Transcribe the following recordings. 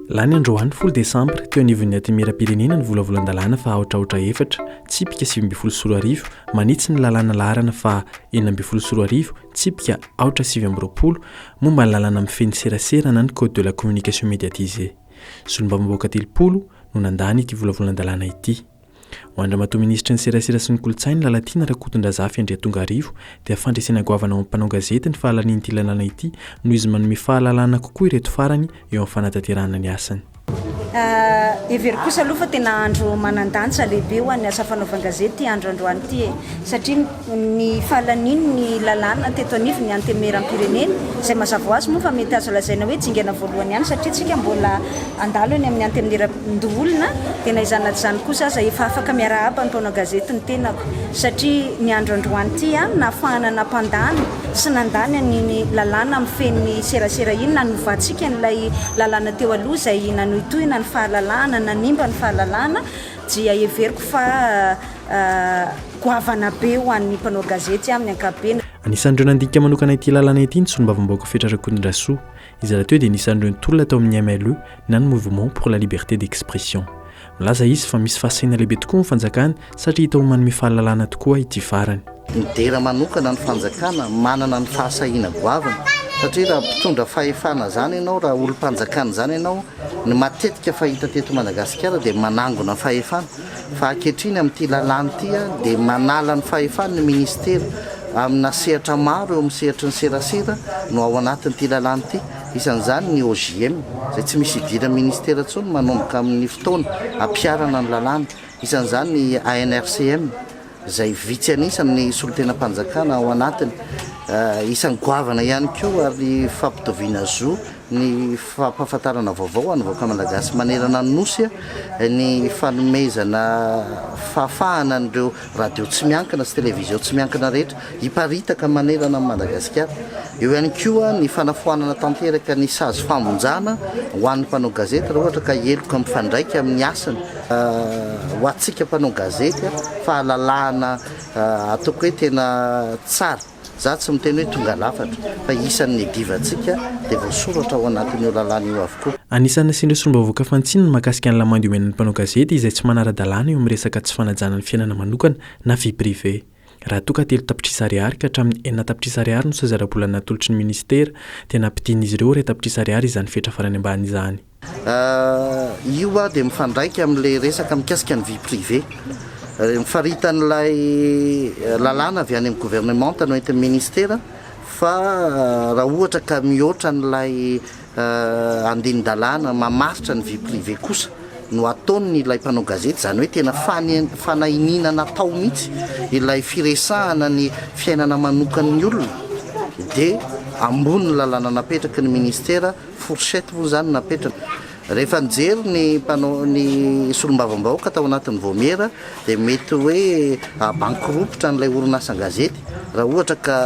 Lany androany folo desambra teo anivon'ny antimieram-pirenena ny volavolan-dalàna fa aotraotra efatra tsipika sivy ambin'ny folo sy roa arivo manitsy ny lalàna laharana fa enina ambin'ny folo sy roa arivo tsipika aotra sivy amby roapolo momba ny lalàna mifehy ny serasera na ny code de la communication médiatisée. Solombavambahoaka telopolo no nandany ity volavolan-dalàna ity. Ho an-dRamatoa Minisitry ny Serasera sy ny Kolontsaina, Lalatiana Rakotondrazafy Andriatongarivo, dia fandresena goavana ho an'ny mpanao gazety ny fahalanian'ity lalàna ity noho izy manome fahalalana kokoa ireto farany eo amin'ny fanatanterahana ny asany. Hevero kosa aloha fa tena andro manan-danja lehibe ho an'ny asa fanaovan-gazety ity andro androany ity e! Satria. Ny fahalanian' ny lalàna teto anivon' ny Antemeram-pirenena, izay mazava ho azy moa fa mety azo lazaina hoe dingana voalohany ihany satria isika mbola handalo eny amin' ny Antemieran-doholona, dia na izany na tsy izany kosa aza efa afaka miarahaba ny mpanao gazety ny tenako satria ny andro androany ity aho no nahafahana nampandany sy nandany an' iny lalàna mifehy ny serasera iny nanovantsika an' ilay lalàna teo aloha izay nanohitohina ny fahalalahana, nanimba ny fahalalahana. dia heveriko fa goavana be ho an'ny mpanao gazety amin'ny ankapobeny. Anisan'ireo nandika manokana ity lalana ity ny solombavambahoaka Fetra Rakotondrasoa, izay rahateo dia anisan'ireo nitolona tao amin'ny MLE na ny Mouvement pour la Liberté d'Expression. Milaza izy fa misy fahasahiana lehibe tokoa ny fanjakana satria hita ho manome fahalalana tokoa ity farany. Midera manokana ny fanjakana manana ny fahasahiana goavana satria raha mpitondra fahefana zany ianao, raha olom-panjakana zany ianao, ny matetika fahita teto Madagasikara dia manangona fahefana fa ankehitriny amin'ity lalàna ity dia manala ny fahefany ny ministera amina sehatra maro eo amin'ny sehatry ny serasera no ao anatin'ity lalàna ity isan'izany ny OJM izay tsy misy idiran'ny ministera intsony manomboka amin'ny fotoana ampiharana ny lalàna isan'izany ny ANRCM izay vitsy an'isa amin'ny solontenam-panjakana ao anatiny, isan'ny goavana ihany koa ary ny fampitoviana zo ny fampahafantarana vaovao ho an'ny vahoaka malagasy manerana ny Nosy, ny fanomezana fahafahana an'ireo radio tsy miankina sy televizion tsy miankina rehetra, hiparitaka manerana an'i Madagasikara. Eo ihany koa ny fanafoanana tanteraka ny sazy famonjana ho an'ny mpanao gazety raha ohatra ka heloka mifandraika amin'ny asany. Ho antsika mpanao gazety, fahalalahana ataoko hoe tena tsara, za tsy miteny hoe tonga lafatra, fa isan'ny niadivantsika dia voasoratra ao anatin'io lalàna io avokoa. Anisan'ny nasian'ireo solombavambahoaka fantsiny ny mahakasika ny lamandy omenan'ny mpanao gazety izay tsy manara-dalàna eo amin'ny resaka tsy fanajana ny fiainana manokana na vie privée. Raha toa ka telo tapitrisa ariary ka hatramin'ny enina tapitrisa ariary no sazy ara-bola natolotry ny minisitera, dia nampidian'izy ireo iray tapitrisa ariary izany fetra farany ambany izany. Io dia mifandraika amin'ilay resaka mikasika ny vie privée. Faritan'ilay lalàna avy any amin'ny governemanta no entin'ny minisitera fa raha ohatra ka mihoatra an'ilay andinin-dalàna mamaritra ny vie privée kosa no ataon' ilay mpanao gazety, izany hoe tena fanahiniana natao mihitsy ilay firesahana ny fiainana manokan' ny olona, dia ambony ny lalàna napetraky ny ministera, fourchette moa izany napetrany. Rehefa nijery ny mpanao ny solombavambahoaka tao anatin' ny Vaomiera dia mety hoe hahabankiropitra an'ilay orinasa an-gazety raha ohatra ka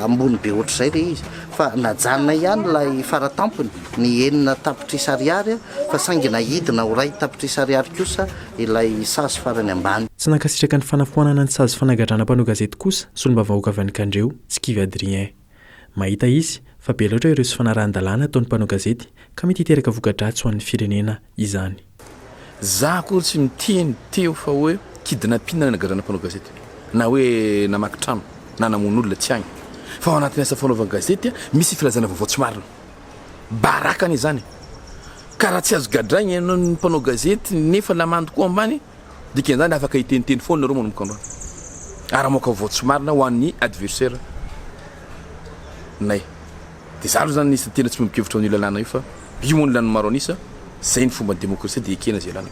ambony be ohatr'izay ilay izy. fa najanona ihany ilay faratampony ny enina tapitrisa ariary fa saingy naidina ho iray tapitrisa ariary kosa ilay sazy farany ambany. Tsy nankasitraka ny fanafoanana ny sazy fanagadrana mpanao gazety kosa solombavahoaka avy any Kandreho, tsy kivy Adrien. Mahita izy fa be loatra ireo tsy fanarahan-dalàna ataon'ny mpanao gazety ka mety hiteraka voka-dratsy ho an'ny firenena izany. Za akory tsy niteny teo fa hoe kidnapping ny nagadrana mpanao gazety na hoe namaky trano na namono olona tsy agny fa ao anatin'ny asa fanaovan gazety misy filazana vaovao tsy marina baraka anie zany ka raha tsy azo gadraigna ianao ny mpanao gazety nefa lamandy koa ambany dikan'izany afaka hiteniteny foana nareo manomboka androany ary mamoaka vaovao tsy marina ho an'ny adversaire nay. Dia za aloha zany an'isa tena tsy miombon-kevitra amin'io lalàna io fa io moa ny lan'ny maro an'isa, zay ny fomban'ny demokrasia dia ekena izay lany.